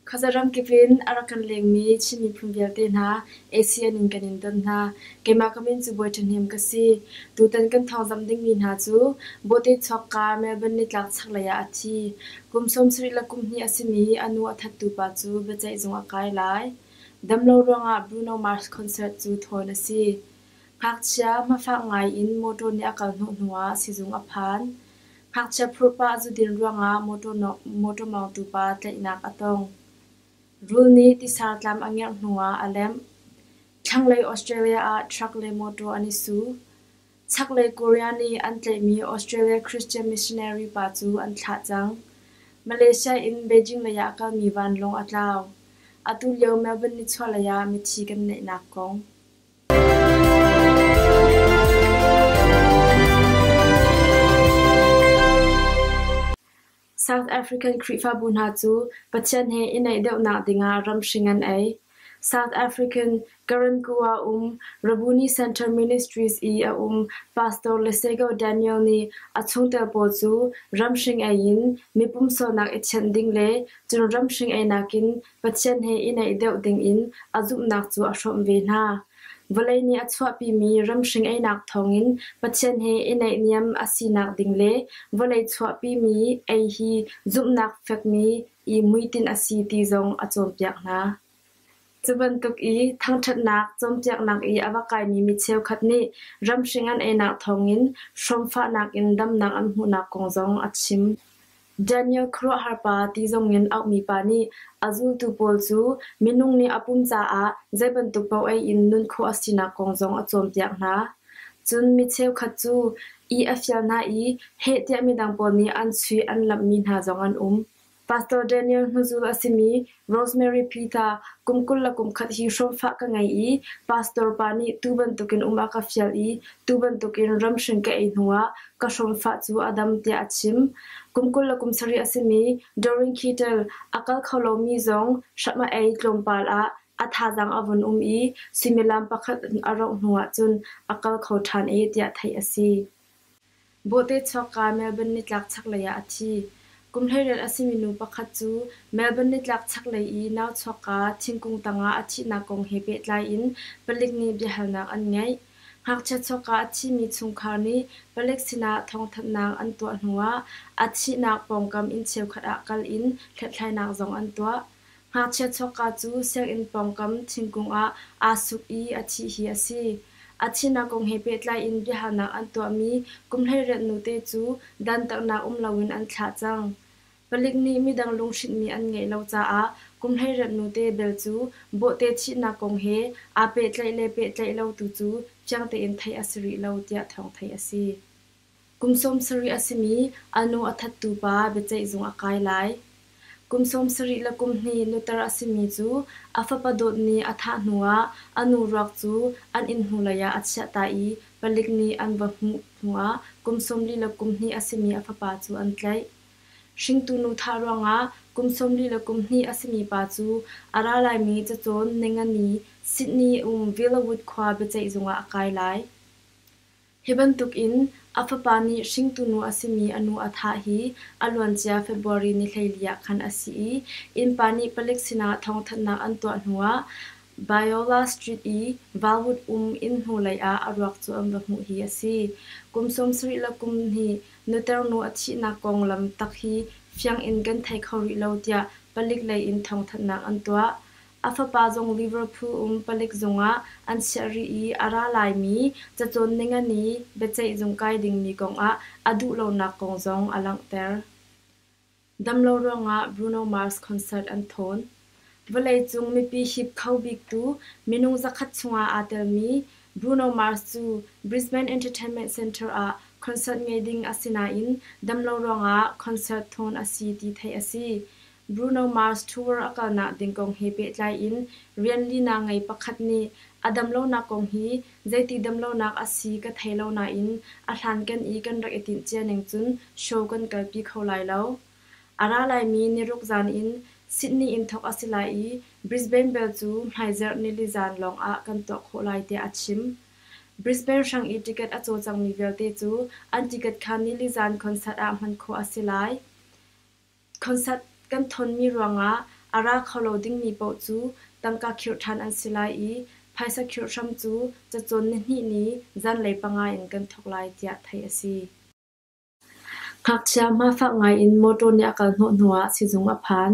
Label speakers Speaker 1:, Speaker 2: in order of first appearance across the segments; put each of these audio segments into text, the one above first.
Speaker 1: Khuazaramkip in a rak kan lengmi Chin miphun vialte hna ASEAN in kan in ton hna. Keimah ka min cu Bawi Ṭhahnem ka si. Tutan kan thawngzamh dingmi hna cu Bawhte Chuakka, Melbourne nitlak chaklei ah a thi. Kum sawmsarih le kum hnih a simi a nu a thattupa cu biaceihzung a kai lai. Damlo ruangah Bruno Mars concert cu thawn a si. Ngakchia hmafak ngaiin motor nih a kal hnawh hnuah sizung a phan. Ngakchia phurhpah zudin ruangah motor mawngtu pa tlaihnak a tong. Rul nih tisar tlam a ngerh hnuah a lemh. Thlanglei Australia ah truck le motor an i su. Chaklei Korea nih an tlaihmi Australia Christian missionary pa cu an thlah cang. Malaysia in Beijing leiah a kalmi vanlawng a tlau. Atu lio Melbourne nichuahlei ah mithi kan neihnak kong. South African Khrihfabu hna cu Pathian he i naih deuhnak dingah ramhring an ei. South African Karankuwa um Rabuni Central Ministries i a um Pastor Lesego Daniel nih a chungtel pawl cu ramhring ei in mi pumsualnak i thianh ding le cun ramhring einak in Pathian he i naih deuh dingin a zumhnak cu a hrawmh ve hna. Vawlei nih a chuahpimi ramhring einak thawngin Pathian he i naihniam a sinak ding le vawlei chuahpimi ei hi zumhnak fekmi i muitin a si ti zong a cawnpiak hna. Cu bantuk i thangṭhatnak cawnpiaknak i a va kaimi mi cheukhat nih ramhring an einak thawngin hrawmfahnak in damnak an hmuhnak kong zong a chim. Daniel khuaruahharpa ti zongin auhmi pa nih a zultu pawl cu minung nih a pum caah zei bantuk paoh ei in nun khawh a sinak kong zong a cawnpiak hna. Cun mi cheukhat cu ih a fial hna i heh tiah midang pawl nih an sui an lamhmi hna zong an um. Pastor Daniel hnuzul a simi Rosemary Pita, Kum kul le kum khat hi hrawmfah ka ngei i pastor pa nih tu bantukin um a ka fial i tu bantukin ramhring ka ei hnuah ka hrawmfah cu a dam tiah a chim. Kum kul le kum sarih a simi Doreen Kittel a kal kho lomi zong hram a ei tlawmpal ah a thazaang a vun um i suimilam pakhat a rauh hnuah cun a kal kho ṭhan e tiah theih a si. Bawhte-Chawka Melbourne nitlak chaklei ah a thi. Kum hleiriat a simi nu pakhat cu Melbourne nitlak chaklei i Nauchuakka thingkung tangah a thihnak kong he pehtlai in palik nih biahalnak an ngeih. Ngakchia Chawka a thimi chungkhar nih palik sinah thawngthanhnak an tuah hnuah a thihnak pawngkam inn cheukhat ah kal in hlathlainak zong an tuah. Ngakchia chawkka cu sianginn pawngkam thingkung ah aa suk i a thih hi a si. A thihnak kong he pehtlai in biahalnak an tuahmi kumhleiriat nute cu dantatnak um loin an thlah cang. Palik nih midang lunghrinhmi an ngeih lo caah kumhleiriat nute bel cu bawhte thihnak kong he aa pehtlaih le pehtlaih lo tu cu fiang tein theih a si rih lo tiah thawng theih a si. Kum sawm sarih a simi a nu a thattu pa biaceih zung a kai lai. Kum sawm sarih le kum hnih nuter a simi cu a fapa dawt nih a thah hnuah a nu ruak cu an inn hnulei ah a chiah ta i palik nih an va hmuh hnuah kum sawmli le kum hnih a simi a fapa cu an tlaih. Hringtu nu thah ruangah kum sawmli le kum hnih a simi pa cu a ra laimi cacawn Nengani, Sydney um Villawood khua biaceih zung ah a kai lai. Hi bantuk in a fapa nih hringtu nu a simi a nu a thah hi a luancia February ni hleili ah khan a si i innpa nih palik sinah thawngthanhnak an tuah hnuah Biola Street i Valwood um inn hnulei ah a ruak cu an va hmuh hi a si. Kum sawmsarih le kum hnih nuter nu a thihnak konglam tak hi fiang in kan thei kho rih lo tiah palik lei in thawngthanhnak an tuah. A fapa zong Liverpool um palik zungah an chiah rih i a ra laimi cacawn ningani biaceih zung kai dingmi kongah a duhlonak kong zong a langhter. Damlo ruangah Bruno Mars concert an thawn. Vawleicung mipi hip kho biktu minung zakhat chungah aa telmi Bruno Mars cu Brisbane Entertainment Centre ah concert ngei ding a si nain damlo ruangah concert thawn a si ti theih a si. Bruno Mars tour a kalnak ding kong he pehtlai in rianlina ngei pakhat nih a damlonak kong hi zeiti damlonak a si ka thei lo nain a hlanken i kan rak i tinh cia ning cun show kan kalpi kho lai lo. A ra laimi niruk zan in Sydney in thawk a si lai i Brisbane bel cu hmaizarh nili zan lawng ah kan tuah khawh lai tiah a chim. Brisbane hrang i ticket a cawcangmi vialte cu an ticket kha nili zan concert ah hman khawh a si lai. Concert kan tthawnmi ruangah a ra kho lo dingmi paoh cu tangka khirh tthan an si lai i phaisa khirh hram cu cacawn nihnih ni zanlei panga in kan thawk lai tiah theih a si. Ngakchia hmafak ngai in motor nih a kal hnawh hnuah sizung a phan.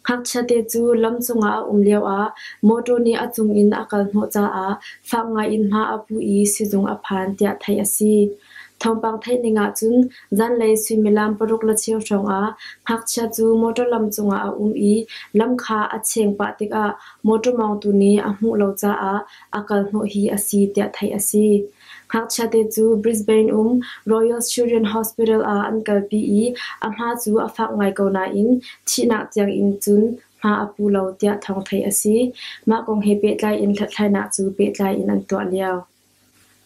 Speaker 1: Ngakchiate cu lam cungah a um lioah mawṭaw nih a cungin a kal hnawh caah fak ngaiin hma a pu i sizung a phan tiah theih a si. Thawngpang theih ning ahcun zanlei suimilam paruk le cheu hrawngah ngakchia cu mawṭaw lam cungah a um i lam kha a cheng pah tikah mawṭaw mawngtu nih a hmuh lo caah a kal hnawh hi a si tiah theih a si. Ngakchiate cu Brisbane um Royal Children Hospital ah an kalpi i a hma cu a fak ngai ko nain thihnak tiangin cun hma a pu lo tiah thawng theih a si. Mah kong he pehtlai in hlathlainak cu pehtlai in an tuah lio.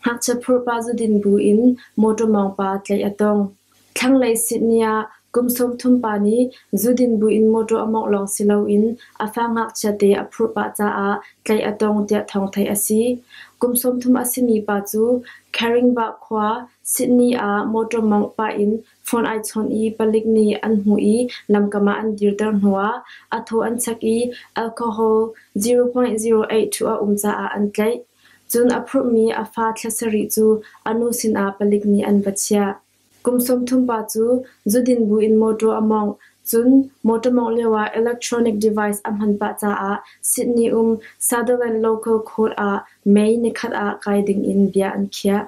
Speaker 1: Ngakchia phurpa zudin bu in mawṭaw mawngpa tlaih a tong. Thlanglei Sydney ah kum sawmthum pa nih zudin buin mawṭaw a mawngh lawng si loin a fa ngakchiate a phurh pah caah tlaih a tong tiah thawng theih a si. Kum sawmthum a simi pa cu Caringbah khua, Sydney ah mawṭaw mawngh pah in phone ai chawnh i palik nih an hmuh i lamkam ah an dirter hnuah a thaw an chak i alcohol 0.08 a um caah an tlaih. Cun a phurhmi a fa thla sarih cu a nu sinah palik nih an va chiah. Kum sawmthum pa cu zudin buin mawṭaw a mawngh, cun mawṭaw mawngh lioah electronic device a hman pah caah Sydney um Sutherland Local Court ah May nikhat ah kai dingin bia an khiah.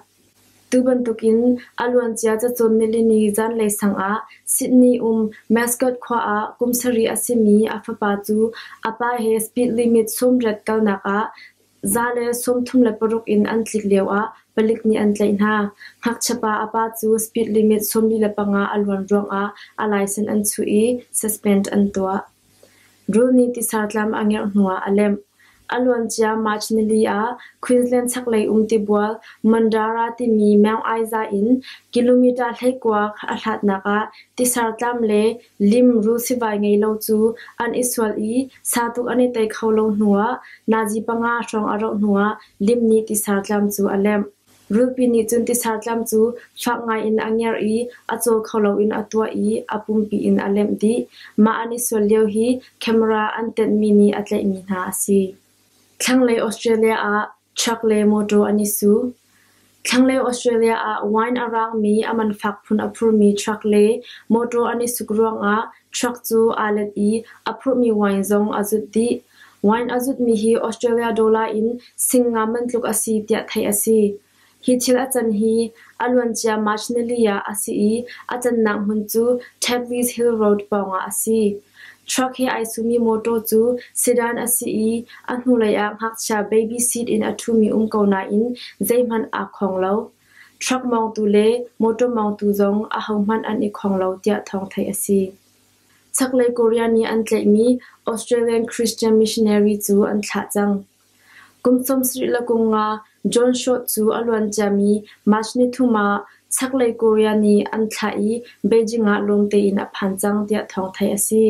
Speaker 1: Tu bantukin a luancia cacawn nilini zanlei sangah Sydney um Mascot khua ah kum sarih a simi a fapa cu a pa he speed limit sawmriat kalnak ah Za le sawmthum le paruk in an tlik lioah palik nih an tlaih hna. Ngakchiapa a pa cu speed limit sawmli le panga a luan ruangah a laisen an chuh i suspend an tuah. Rul nih tisar tlam a ngerh hnuah a lemh. A luan cia March nili ah Queensland chaklei um tibual Mandara timi meng ai za in kilometre hleikuak a hlatnak ah tisar tlam le Limru sivai ngei lo cu an i sual i sa tuk an i tei kho lo hnuah nazi panga hrawng a roh hnuah lim nih tisa tlam cu a lemh. Rulpi nih cun tisa tlam cu fak ngaiin a ngerh i a caw kho loin a tuah i a pumpi in a lemh dih. Mah an i sual lio hi camera an tenhmi nih a tlaihmi hna a si. Thlanglei Australia ah Truck le motor an i su. Thlangleu Australia ah wine a raangmi a man fak phun a phurmi truck le motor an i suk ruangah truck cu aa let i a phurhmi wine zong a zut dih. Wine a zutmi hi Australia dollar in sing ngam bantuk a si tiah theih a si. Hi thil a can hi a luancia March nili ah a si i a cannak hmun cu Taplys Hill Road pawngah a si. Truck he ai sumi mawṭaw cu sedan a si i a hnulei ah ngakchia baby seat in a ṭhumi um ko nain zeihmanh aa khong lo. Truck mawngtu le mawṭaw mawngtu zong ahohmanh an i khong lo tiah thawng theih a si. Chaklei Korea nih an tlaihmi Australian Christian missionary cu an thlah cang. Kum sawmsarih le kum nga John Short cu a luan ciami March ni thum ah Chaklei Korea nih an thlah i Beijing ah lung tein a phan cang tiah thawng theih a si.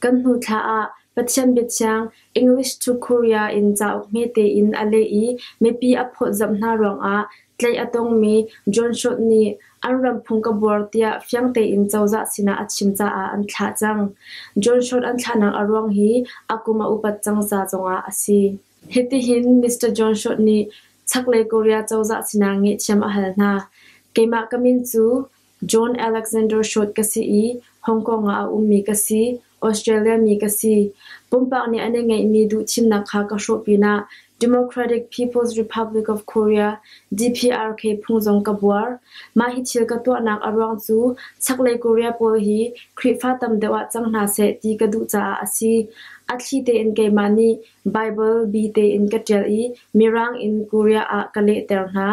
Speaker 1: Kan hnu thla ah Pathian biathiang English to Korea in cauk hme tein a leh i mipi a phawtzamh hna ruangah Tlaih a tongmi John Short nih an ram phung ka buar tiah fiang tein cozah sinah a chim caah an thlah cang. John Short an thlahnak a ruang hi a kum a upat cang ca zongah a si. Hitihin Mr. John Short nih chaklei Korea cozah sinah ngehthiam a hal hna. Keimah ka min cu John Alexander Short ka si i Hong Kong ah a ummi ka si, Australia mi ka si. Pumpak nih an i ngeihmi duhthimnak kha ka hrawh pinah Democratic People's Republic of Korea DPRK phung zong ka buar. Mah hi thil ka tuahnak a ruang cu chaklei Korea pawl hi Khrihfa tam deuh ah cang hna seh ti ka duh caah a si. A thli tein keimah nih Baibal bi tein ka ṭial i Mirang in Korea ah ka lehter hna.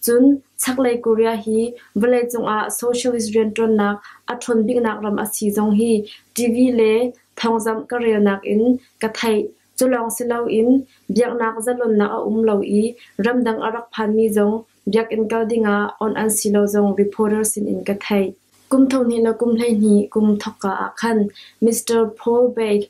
Speaker 1: Cun chaklei Korea hi vawleicung ah socialist rianṭuannak a ṭhawn biknak ram a si zong hi TV le thawngzamh ka relnak in ka theih. Culawng si loin biaknak zalonnak a um lo i ramdang a rak phanmi zong biakinn kal dingah awnh an si lo zong reporter sinin ka theih. Kum thonghnih le kum hleihnih kum thawkka ah khan Mr. Paul Beck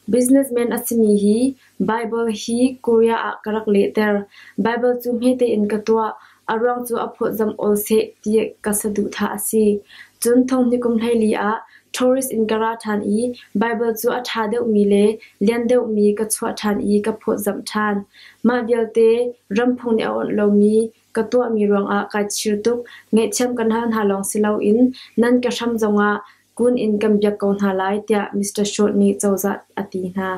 Speaker 1: Businessman a simi hi Baibal hi Korea ah ka rak lehter. Baibal cu hme tein ka tuah. A ruang cu a phawtzamh awl seh ti ka saduhthah a si. Cun thonghnikum hleili ah tourist in ka ra ṭhan i Baibal cu a ṭha deuhmi le lian deuhmi ka chuah ṭhan i ka phawtzamh ṭhan. Mah vialte ram phung nih a awnh lomi ka tuahmi ruangah kai chir tuk. Ngaihthiam kan hal hna lawng si loin nan ka hram zongah Kun in kan biak ko hna lai tiah Mr. Schultz nih cozah a ti hna.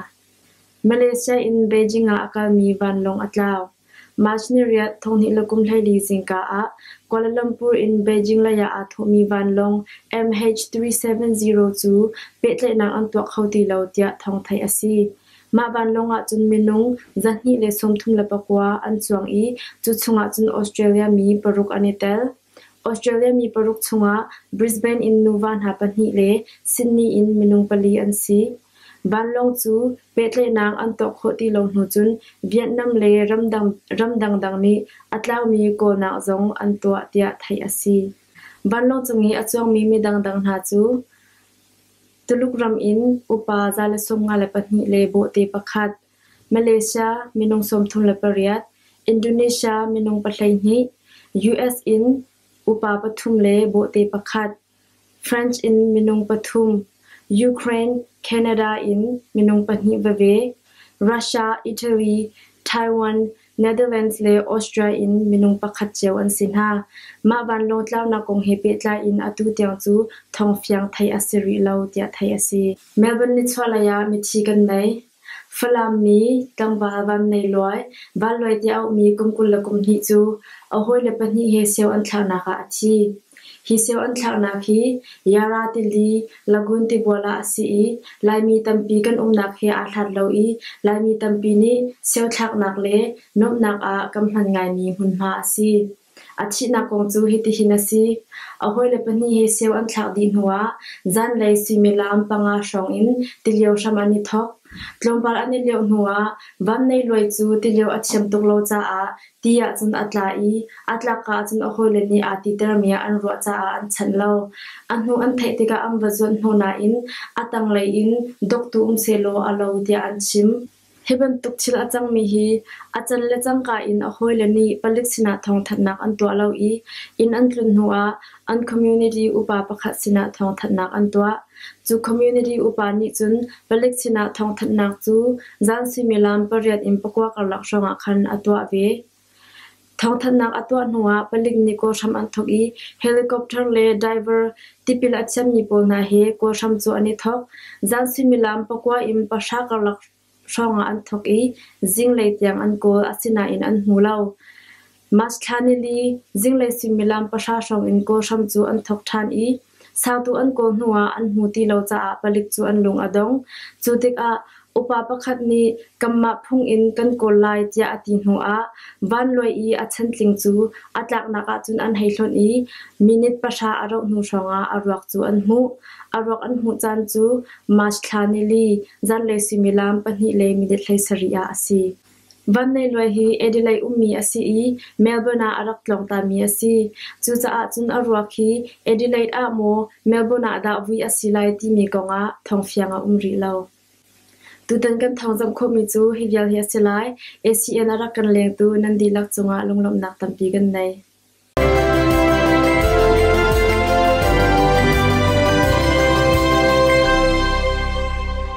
Speaker 1: Malaysia in Beijing ah a kalmi vanlawng a tlau. March ni riat thonghnih le kum hleili zingka ah Kuala Lumpur in Beijing leiah aa thawhmi vanlawng MH370 cu pehtlaihnak an tuah kho ti lo tiah thawng theih a si. Mah vanlawng ahcun minung zahnih le sawmthum le pakua an cuang i cu chungah cun Australia mi paruk an i tel. Australia mi paruk chungah Brisbane in nuva hna pahnih le Sydney in minung pali an si. Vanlawng cu pehtlaihnak an tuah khawh ti lo hnu cun Vietnam le ram dangdang nih a tlaumi kawlnak zong an tuah tiah theih a si. Vanlawng cung i a cuangmi mi dangdang hna cu Tuluk ram in upa za le sawmnga le pahnih le bawhte pakhat, Malaysia minung sawmthum le pariat, Indonesia minung pahleihnih, US in upa pathum le bawhte pakhat, French in minung pathum, Ukraine, Canada in minung pahnih veve, Russia, Italy, Taiwan, Netherlands le Austria in minung pakhat cio an si hna. Mah vanlawng tlaunak kong he pehtlai in atu tiang cu thawng fiang theih a si rih lo tiah theih a si. Melbourne nichuahlei ah mithi kan nei. Falam mi, tlangval vannei luai, vanluai ti a ummi kum kul le kum hnih cu a hawile pahnih he sio an thlauhnak ah a thi. Hi sio an thlauhnak hi Yara tili, Lagun tibual ah a si i Laimi tampi kan umnak he aa hlat lo i Laimi tampi nih sio thlaknak le nuamhnak ah kan hman ngaimi hmunhma a si. A thihnak kong cu hitihin a si: a hawile pahnih hi seu an thlak dih hnuah zanlei suimilam panga hrawngin tilio hram an i thawk. Tlawmpal an i lioh hnuah vannei luai cu tilio a thiam tuk lo caah ti ahcun a tla i a tlak ahcun a hawile nih aa titermi ah an ruah caah an chanh lo. A hnu an theih tikah an va zuanh hnu nain a tanglei in doktu um sehlaw a lo tiah an chim. Hi bantuk thil a cangmi hi a can le cangka in a hawile nih palik sinah thawngthanhnak an tuah lo i inn an tlun hnuah an community upa pakhat sinah thawngthanhnak an tuah. Cu community upa nih cun palik sinah thawngthanhnak cu zan suimilam pariat in pakua karlak hrawngah khan a tuah ve. Thawngthanhnak a tuah hnuah palik nih kawlhram an thawk i helicopter le diver tipil a thiammi pawl hna he kawlhram cu an i thawk. Zan suimilam pakua in pahra karlak hrawngah an thawk i zinglei tiang an kawl, asinain an hmu lo. March thla ni li zinglei suimilam pahra hrawng in kawlhram cu an thawk ṭhan i Sangtu an kaw hnu ah an hmu ti lo caah palik cu an lung a dong. Cu tikah upa pakhat nih kanmah phung in kan kawl lai tiah a ti hnu ah vanluai i a chantling cu a tlaknak ahcun an hei hlonh i minute pahra a rauh hnu hrawngah a ruak cu an hmuh. A ruak an hmuh caan cu March thla ni li zanlei suimilam pahnih le minute hleisarih ah a si. Van Nei Luai hi Adelaide ummi a si i Melbourne ah a rak tlawngtami a si. Cucaah cun a ruak hi Adelaide ah maw Melbourne ah dah vui a si lai timi kong ah thawngfiang a um rih lo. Tutan kan thawng zamh khawhmi cu hi vial hi a si lai. ACN a rak kan lengtu nan dihlak cungah lunglawmhnak tampi kan nei.